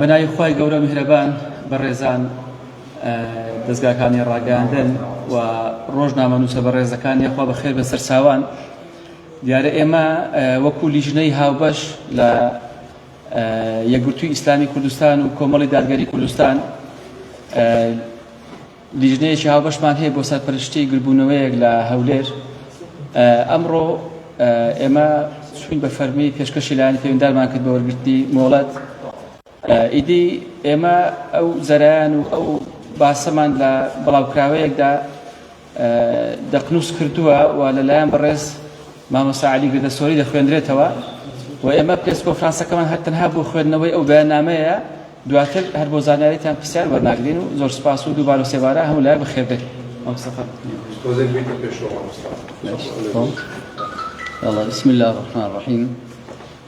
بەناوی خوای گەورە میهرەبان بەڕێزان دەزگاکانی ڕاگەیاندن و ڕۆژنامە نووسە بەڕێزەکان یاخوا بەخێر بە سەرچوان دیارە ئێمە وەکو لیژنەی هاوبەش لە یەکگرتووی ئیسلامی کوردستان و کۆمەڵی دادگەری کوردستان لیژنەیەکی هاوبەشمان هەیە بۆ سەرپەرشتی گربوونەوەیەک لە هەولێر ئەمڕۆ ئێمە سوین بە فەرمی پێشکەشی لایەن پێوەندارمان کرد بە وەرگرتنی مۆڵەت ئیدی ئێمە ئەو زەرەیان و ئەو باسەمان لە بڵاوکراوەیەکدا دەقنووس کردووە و لەلایەن بەڕێز مامۆستا علی گردەسۆری دەخوێندرێتەوە و ئێمە پرس کۆفرانسەکەمان هەر تەنها بۆ خوێندنەوەی ئەو بەیاننامەیە دواتر هەر بۆ زانیاریتان پرسیار وەرناگرین و زۆر سپاس و دووبار و سێبارە هەموو لایەک بەخێربێت بسم الله الرحمن الرحیم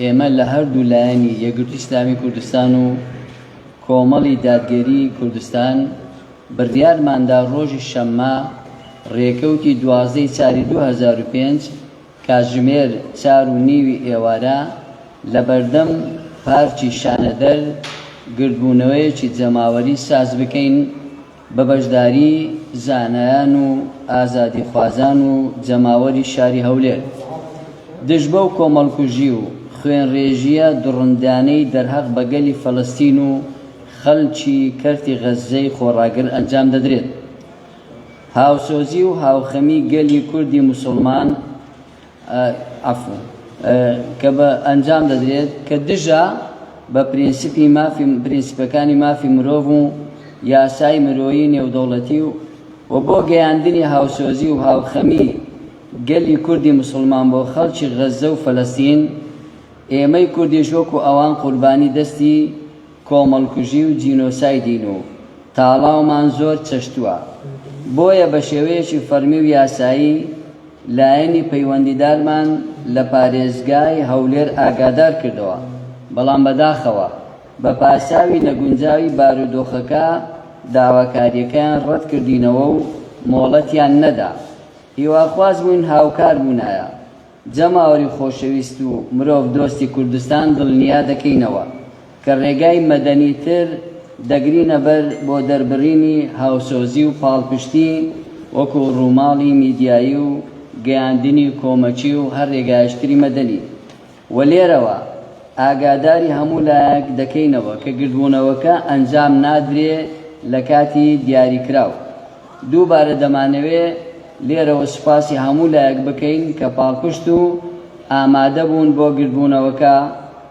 ئێمە لە هەردوو لایەنی یەکگرتووی ئیسلامی کوردستان و کۆمەڵی دادگەری کوردستان بڕیارماندا ڕۆژی شەممە ڕێکەوتی دوازدە ی چاری دوو هەزار و پێنج کاتژمێر چار و نیوی ئێوارە لە بەردەم پارکی شانەدەر گردبوونەوەیەکی جەماوەری سازبکەین بە بەشداریی زانایان و ئازادیخوازان و جەماوەری شاری هەولێر، دژ بەو کۆمەڵکوژی و خوێنڕێژییە دڕندانەی دەرهەق بە گەلی فەلەستین و خەڵکی کەرتی غەززەی خۆڕاگر ئەنجام دەدرێت، هاوسۆزی و هاوخەمی گەلی کوردی موسڵمان، عەفوەن، کە بە ئەنجام دەدرێت کە دژە بە پرینسیپی مافی پرینسیپەکانی مافی مرۆڤ و یاسای مرۆیی نێودەوڵەتی و و بۆ گەیاندنی هاوسۆزی و هاوخەمی گەلی کوردی موسڵمان بۆ خەڵکی غەززە و فەلەستین ئێمەی کوردیش وەکو ئەوان قوربانی دەستی کۆمەڵکوژی و جینۆسایدین و تاڵاومان زۆر چەشتوە بۆیە بە شێوەیەکی فەڕمی و یاسایی لایەنی پەیوەندیدارمان لە پارێزگای هەولێر ئاگادار کردەوە، بەڵام بەداخەوە بە پاساوی نەگونجاوی بارودۆخەکە داواکارییەکەیان ڕەت کردینەوە و مۆڵەتیان نەدا. هیواخواز بووین هاوکار بوونایە. جەماوەری خۆشەویست و مرۆڤ دۆستی کوردستان دڵنیا دەکەینەوە. کە ڕێگای مەدەنیتر دەگرینە بەر بۆ دەربڕینی هاوسۆزی و پاڵپشتی وەکو ڕووماڵی میدیایی و گەیاندنی کۆمەکی و هەر ڕێگایشتری مەدەنی و لێرەوە ئاگاداری هەموو لایەک دەکەینەوە کە گردبوونەوەکە ئەنجام نادرێ لە کاتی دیاریکراو دووبارە دەمانەوێ لێرەوە سوپاسی هەموو لایەک بکەین کە پاڵپشت و ئامادەبوون بۆ گردبوونەوەکە.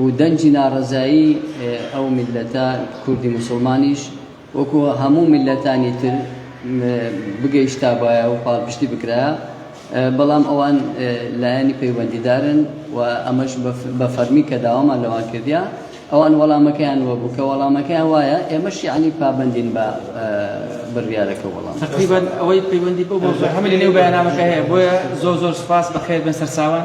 و دەنگی ناڕەزایی ئەو میللەتە کوردی موسڵمانیش وەکو هەموو میللەتانی تر بگەیشتابایە و پاڵپشتی بکرایە بەڵام ئەوان لایەنی پەیوەندیدارن و ئەمەش بە فەرمی کە داوامان لەوان کردیا ئەوان وەڵامەکەیان وەبوو کە وەڵامەکەیان وایە ئێمەش یعنی پابەندین بە بڕیارەکە وەڵام تقریبا ئەوەی پەیوەندی بەو بۆ هەمە لە نێو بەیانامەکە هەیە بۆیە زۆر زۆر سپاس بەخێر بن سەرچاوان